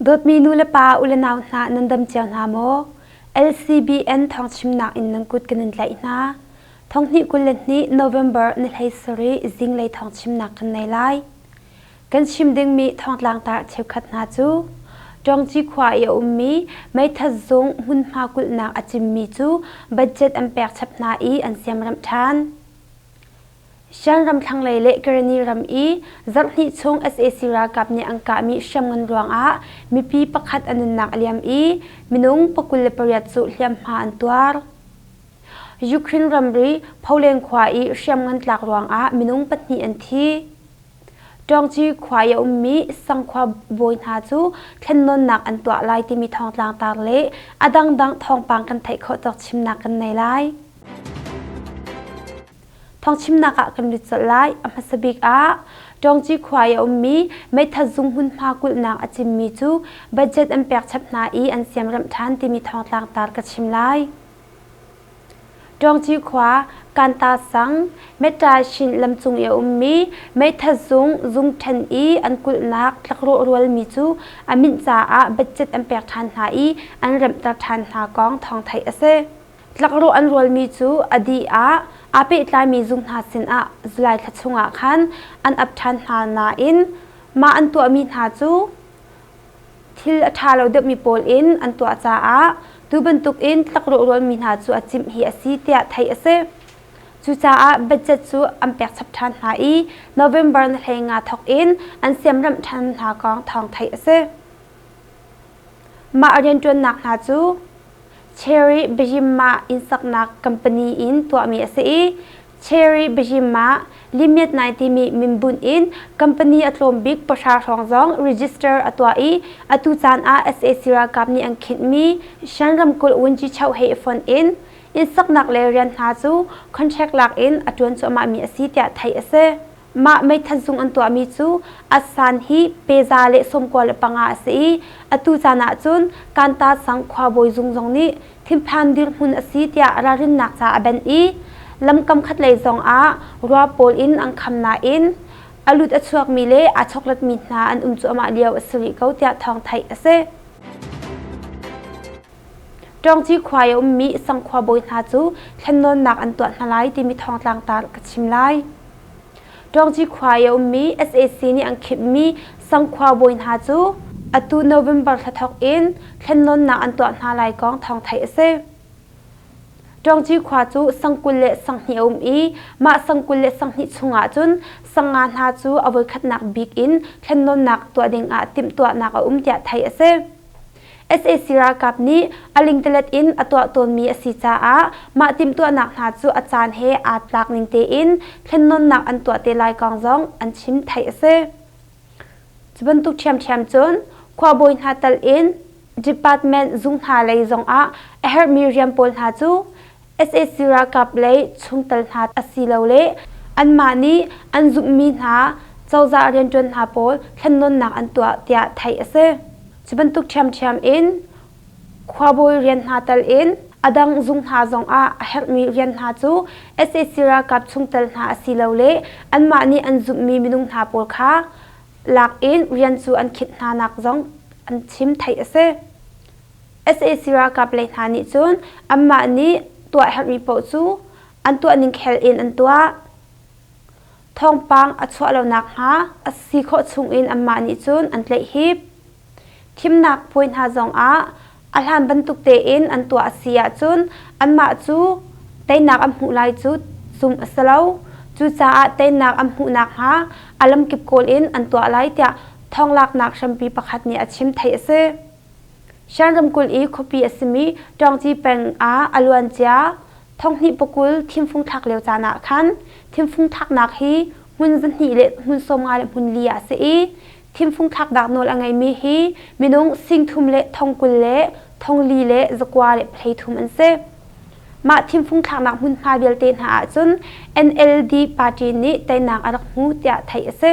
Dawtmi nulepa u le nau hna nan dam cio hna maw? LCBN thawngchimnak in nan kut kan in tlaih hna. Thonghnih kul le hnih November ni hlei sarih zinglei thawngchimnak kan nei lai. Kan chim dingmi thongtlang tar cheukhat hna cu Ṭawngci khua i a ummi meithal zung hmunhma kulhnak a cimmi cu budget an pek chap hna i an siamremh ṭhan. Shan ram thlanglei le Karani ram i zarh hnih chung sac ralkap nih an kahmi hriamngan ruangah mipi pakhat a nunnak a liam i minung pakul le pariat cu hliamhma an tuar. Ukraine ramri Poland khua i hriamngan tlak ruangah minung pahnih an thi. ṭuangci khua i a ummi sangkhua bawi hna cu thlennawnnak an tuah lai timi thawngtlang taar le a dangdang thawngpang kan theih khawh cawk chimnak kan nei lai. Thawngchimnak ah kan lut colh lai. A hmasa bik ah ṭuangci khua i a ummi meithal zung hmunhma kulhnak a cimmi cu budget an pek chap hna i an siamremh ṭhan timi thawngtlang taar ka chim lai. Ṭawngci khua Kanta sang Metta hrin lam cung i a ummi meitha zung zung ṭhen i an kulhnak tlakrawh rualmi cu a minh caah budget an pek ṭhan hna i an remhter ṭhan hna kong thawng theih a si. Tlakrawh an rualmi cu a dih ah aa pehtlaimi zung hna sinah July thla chungah khan an ap ṭhan hna nain mah an tuahmi hna cu thil a ṭha lo deuhmi pawl in an tuah caah tu bantukin tlakrawhrualmi hna cu a cimh hi a si tiah theih a si. Cucaah budget cu an pek chap ṭhan hna i November ni hlei nga thawk in an siamremh ṭhan hna kong thawng theih a si. Mah rianṭuannak hna cu Cherry Bejimah innsaknak company in tuahmi a si i Cherry Bejimah Limit 9 timi minbunh in company a tlawm bik pahra hrawng zong register a tuah i atu caan ah sac ralkap nih an khinhmi Shan ramkulh Wunci-Chau he i fonh in innsaknak le rian hna cu contract lak in a ṭuan cuahmahmi a si tiah theih a si. Mah meithat zung an tuahmi cu Atsan hi peza le sawmkua le panga a si i atu caan ahcun Kanta sang khuabawi zung zong nih thinphan dirhmun a si tiah ralrinnak ca a benh i lamkam khatlei zong ah rua pawl in an kham nain a lut a chuakmi le aa chokletmi hna an um cuahmah lio a si rih ko tiah thawng theih a si. Ṭawngci khua i a ummi Sang khua bawi hna cu thlennawnnak an tuah hna lai timi thawngtlang ta ka chim lai. Ṭawngci khua i a ummi sac nih an khimhmi Sang khua bawi hna cu atu November thla thawk in thlennawnnak an tuah hna lai kong thawng theih a si. Ṭawngci khua cu sang kul le sanghnih a um i mah sang kul le sanghnih chungah cun sanga hna cu a voikhatnak bik in thlennawnnak tuah dingah timhtuahnak a um tiah theih a si. sac ralkap nih a lingtelet in a tuah tawnmi a si caah mah timhtuahnak hna cu a caan he aa tlak ning tein thlennawnnak an tuah te lai kong zong an chim theih a si. Cu bantuk ṭhiamṭhiam cun khuabawi hna tal in department zung hna lei zongah a herhmi rian pawl hna cu sac ralkap lei chungtel hna asilole anmah nih an zumhmi hna cozah rianṭuan hna pawl thlennawnnak an tuah tiah theih a si. Cu bantuk ṭhiamṭhiam in khuabawi rian hna tal in a dang zung hna zongah a herhmi rian hna cu sac ralkap chungtel hna asilole anmah nih an zumhmi minung hna pawl kha lak in rian cu an khinh hnanak zong an chim theih a si. sac ralkap lei hna nih cun anmah nih tuah herhmi paoh cu an tuahning khel in an tuah thawngpang a chuah lo nakhnga a si khawh chungin anmah nih cun an tlaihhip thimnak puai hna zongah a hlan bantuk tein an tuah a si ahcun anmah cu teinak an hmuh lai cu zum a si lo cucaah teinak an hmuh nakhnga a lamkip kawl in an tuah lai tiah thawng laknak hrampi pakhat nih a chim theih a si. Shan ramkulh i khuapi a simi Ṭawngci peng ah a luancia thonghnih pokul thimfung thlak lio caan ah khan thimfung thlaknak hi hmun zahnih le hmun sawmnga le hmun li ah a si i thimfung thlaknak nawl a ngeimi hi minung singthum le thongkul le thongli le zakua le pahhlei thum an si. Mah thimfung thlaknak hmunhma vialte hna ahcun NLD party nih teinak a rak hmu tiah theih a si.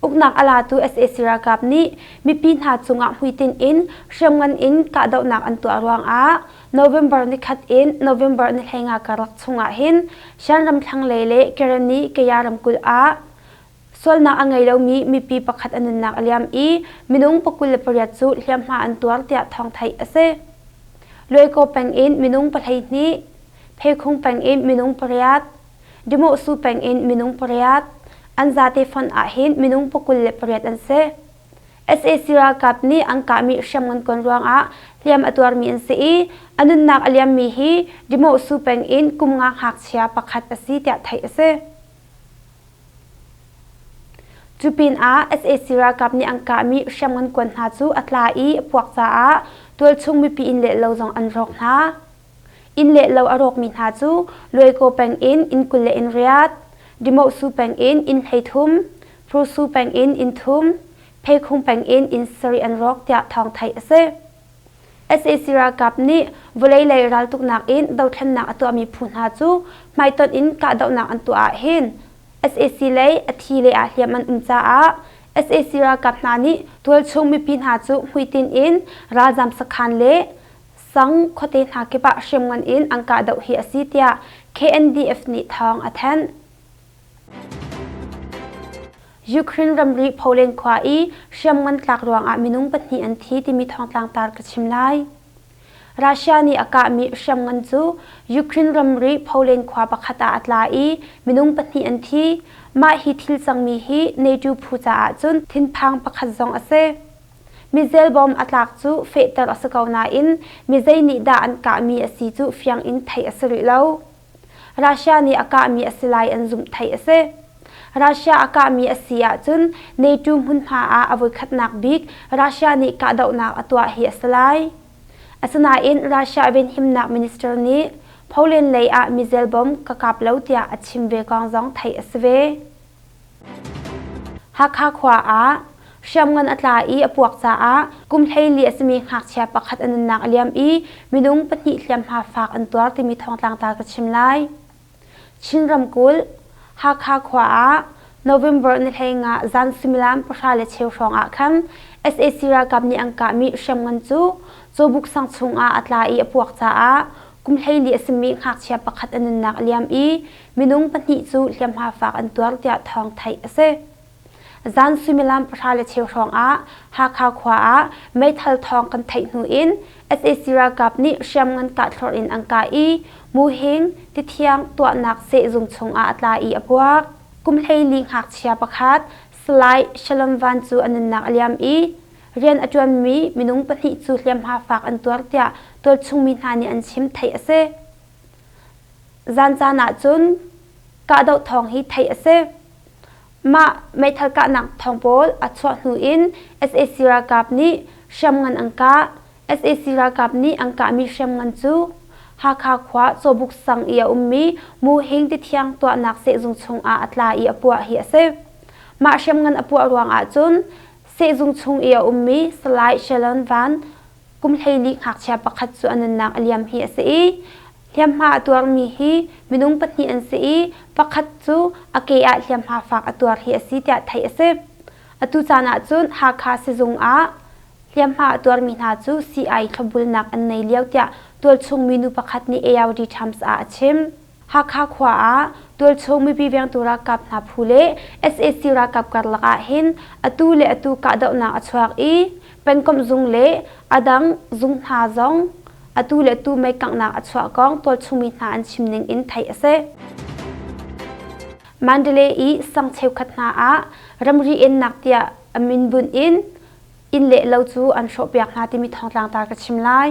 Uknak a latu sac ralkap nih mipi hna cungah hmuitinh in hriamngan in kahdohnak an tuah ruangah November nikhat in November nihlenga karlak chungah hin Shan ram thlanglei le Kerani Kaya ramkulh ah sualnak a ngei lomi mipi pakhat a nunnak a liam i minung pakul le pariat cu hliamhma an tuar tiah thawng theih a si. Luaikaw peng in minung pahleihnih, Pheikhung peng in minung pariat, Dimawhsu peng in minung pariat, an zate fon ahhin minung pakul le pariat an si. sac ralkap nih an kahmi hriamngan kon ruangah hliam a tuarmi an si i a nunnak a liammi hi Dimawhsu peng in kum nga ngakchia pakhat a si tiah theih a si. Cu pinah sac ralkap nih an kahmi hriamngan kon hna cu a tla i a puak caah tualchung mipi inn le lo zong an rawk hna. Inn le lo a rawkmi hna cu Luaikaw peng in inn kul le in riat, Dimawhsu peng in inn hleithum, Phursu peng in inn thum, Pheikhung peng in inn sarih an rawk tiah thawng theih a si. sac ralkap nih vawlei lei raltuknak in dothlennak a tuahmi phu hna cu hmaitonh in kahdohnak an tuah ahhin sac lei a thi le ah hliam an um caah sac ralkap hna nih tualchung mipi hna cu hmuitinh in ralzam sakhan le Sang khuate hna kip ah hriamngan in an kahdoh hi a si tiah KNDF nih thawng a thanh. Ukraine ramri Poland khua i hriamngan tlak ruangah minung pahnih an thi timi thawngtlang tar ka chim lai. Russia nih a kahmi hriamngan cu Ukraine ramri Poland khua pakhat ah a tla i minung pahnih an thi. Mah hi thil cangmi hi NATO phu caah cun thinphang pakhat zong a si. Mizel bawm a tlak cu fehter a si ko nain mizei nih dah an kahmi a si cu fiang in theih a si rih lo. Russia nih a kahmi a si lai an zumh theih a si. Russia a kahmi a si ahcun NATO hmunhma ah a voikhatnak bik Russia nih kahdohnak a tuah hi a si lai. Asinain Russia venhimnak minister nih Poland lei ah mizel bom ka kap lo tiah a chim ve kong zong theih a si ve. Hakha khua ah hriamngan a tla i a puak caah kum hleili a simi ngakchia pakhat a nunnak a liam i minung pahnih hliamhma faak an tuar timi thawngtlang ta ka chim lai. Chin ramkulh Hakha khua ah November ni hlei nga zan suimilam pahra le cheu hrawng ah khan sac ralkap nih an kahmi hriamngan cu Cawbuk sang chung ah a tla i a puak caah kum hleili a simi ngakchia pakhat a nunnak a liam i Minung pahnih cu hliamhma faak an tuar tiah thawng theih a si. Zan suimilam pahra le cheu hrawngah Hakha khua ah meithal thawng kan theih hnu in sac ralkap nih hriamngan kah thlor in an kah i Muhing tithiang tuahnak sehzung chungah a tla i a puak. Kumhleili ngakchia pakhat Salai Shalom Van cu a nunnak a liam i rian a ṭuanmi minung pahnih cu hliamhma faak an tuar tiah tualchung mi hna nih an chim theih a si. Zancaan ahcun kahdoh thawng hi theih a si. Mah meithal kahnak thawng pawl a chuah hnu in sac ralkap nih hriamngan an kah. sac ralkap nih an kahmi hriamngan cu Hakha khua Cawbuk sang i a ummi Mu Hing tithiang tuahnak sehzung chungah a tla i a puah hi a si. Mah hriamngan a puah ruang ahcun sehzung chung i a ummi Salai Shalon Van Kumhleili ngakchia pakhat cu a nunnak a liam hi a si i hliamhma a tuarmi hi minung pahnih an si i pakhat cu a ke ah hliamhma fak a tuar hi a si tiah theih a si. Atu caan ahcun Hakha sizung ah hliamhma a tuarmi hna cu sii-ai thlawbulnak an nei lio tiah tualchung minu pakhat nih ARD Times ah a chim. Hakha khua ah tualchung mipi vengtu ralkap hna phu le sac ralkap karlak ah hin atu le atu kahdohnak a chuak i pengkomh zung le a dang zung hna zong atu le atu meikanghnak a chuah kong tualchungmi hna an chim ning in theih a si. Mandalay i sang cheukhat hna ah ramri ennak tiah a min bunh in inn le lo cu an hrawhpiak hna timi thawngtlangtar ka chim lai.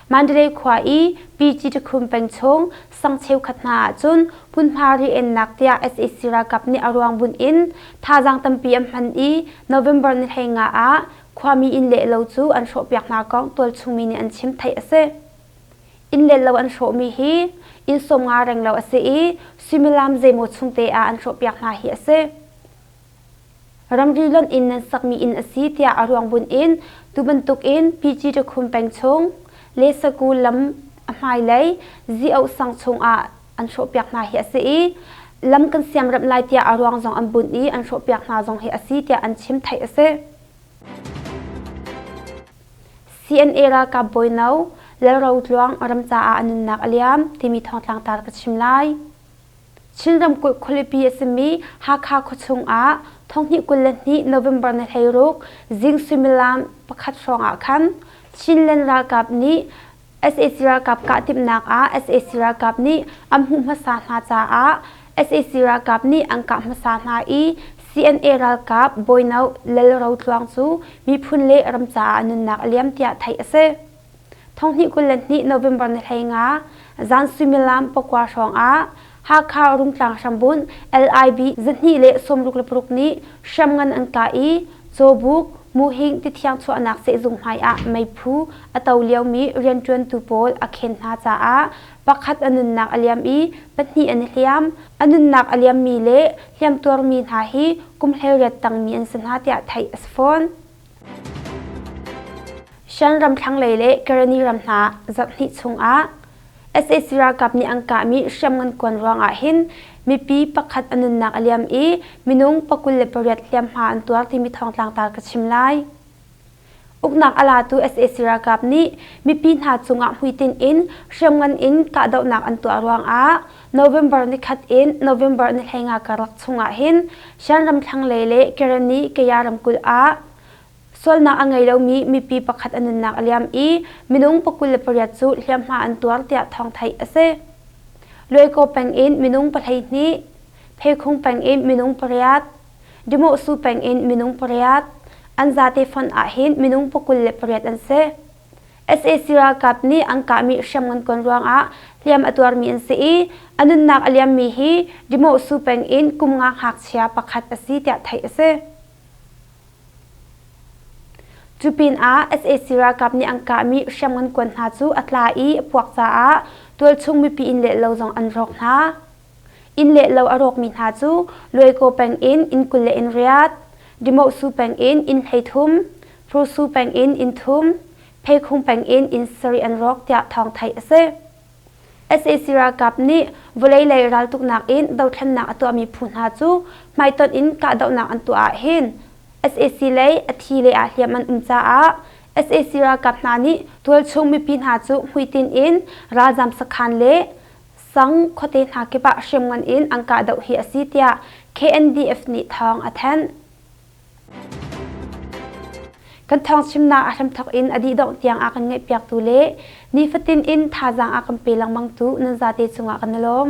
Mandalay khua i Pyiji tikhum peng chung sang cheukhat hna ahcun hmunhma riennak tiah sac ralkap nih a ruang bunh in thazaang tampi an hman i November ni hlei nga ah khuami inn leh lo cu an hrawhpiak hna kong tualchungmi nih an chim theih a si. Inn leh lo an hrawhmi hi inn sawm nga renglo a si i suimilam zeimaw chung te ah an hrawhpiak hna hi a si. ramri lonh in nan sakmi inn a si tiah a ruang bunh in tu bantukin PG Rakhum peng chung le Saku lam a hmailei zi-oh sang chungah an hrawhpiak hna hi a si i lam kan siamremh lai tiah a ruang zong an bunh i an hrawhpiak hna zong hi a si tiah an chim theih a si. CNA ralkap bawi no Lalro Tluang ram caah a nunnak a liam timi thawngtlangtar ka chim lai. Chin ramkulh khualipi a simi Hakha khuachung ah thonghnih kul le hnih November ni hleiruk zing suimilam pakhat hrawng ah khan Chinland ralkap nih sac ralkap kahtimhnak ah sac ralkap nih an hmuh hmasa hna caah sac ralkap nih an kah hmasa hna i CNA ralkap bawino Lal Ro Tluang cu miphun le ram caah nunnak a liam tiah theih a si. Thonghnih kul le hnih November ni hlei nga zan suimilam pakua hrawngah Hakha Rungtlang hrambunh LIB zahnih le sawmruk le paruk nih hriamngan an kah i Cawbuk Muhing tithiang chuahnak sehzung hmaiah meiphu a to liomi rianṭuantu pawl a khen hna caah pakhat a nunnak a liam i pahnih an i hliam. A nunnak a liammi le hliamtuarmi hna hi kum hleiriat tangmi an si hna tiah theih a si fawn. Shan ram thlanglei le Karani ram hna zarh hnih chungah sac ralkap nih an kahmi hriamngan kuan ruangah hin mipi pakhat a nunnak a liam i minung pakul le pariat hliamhma an tuar timi thawngtlang ta ka chim lai. Uknak a latu sac ralkap nih mipi hna cungah hmuitinh in hriamngan in kahdohnak an tuah ruangah November nikhat in November nihleinga karlak chungah hin Shanram thlanglei le Kerani Kaya ramkulh ah sualnak a ngei lomi mipi pakhat an nunnak a liam i minung pakul le pariat cu hliamhma an tuar tiah thawng theih a si. Luaikaw peng in minung pahleihnih, Pheikhung peng in minung pariat, Dimawhsu peng in minung pariat, an zate fonh ahhin minung pakul le pariat an si. sac ralkap nih an kahmi hriamngan kon ruangah hliam a tuarmi an si i a nunnak a liammi hi Dimawhsu peng in kum nga ngakchia pakhat a si tiah theih a si. Cu pinah sac ralkap nih an kahmi hriamngan kon hna cu a tla i a puak caah tualchung mipi inn le lo zong an rawk hna. Inn le lo a rawkmi hna cu Luaikaw peng in inn kul le in riat, Dimawhsu peng in inn hleithum, Hpursu peng in inn thum, Pheikhung peng in inn sarih an rawk tiah thawng theih a si. sac ralkap nih vawlei lei raltuknak in dothlennak a tuahmi phu hna cu hmaitonh in kahdohnak an tuah ahhin sac lei a thi le ah hliam an um caah sac ralkap hna nih tualchung mipi hna cu hmuitinh in ralzam sakhan le Sang khuate hna kip ah hriamngan in an kahdoh hi a si tiah KNDF nih thawng a thanh. Kan thawng chimnak a hramthawk in a dihdongh tiang a kan ngaihpiaktu le nifatin in thazaang a kan pe lengmangtu nan zate cungah kan i lawm.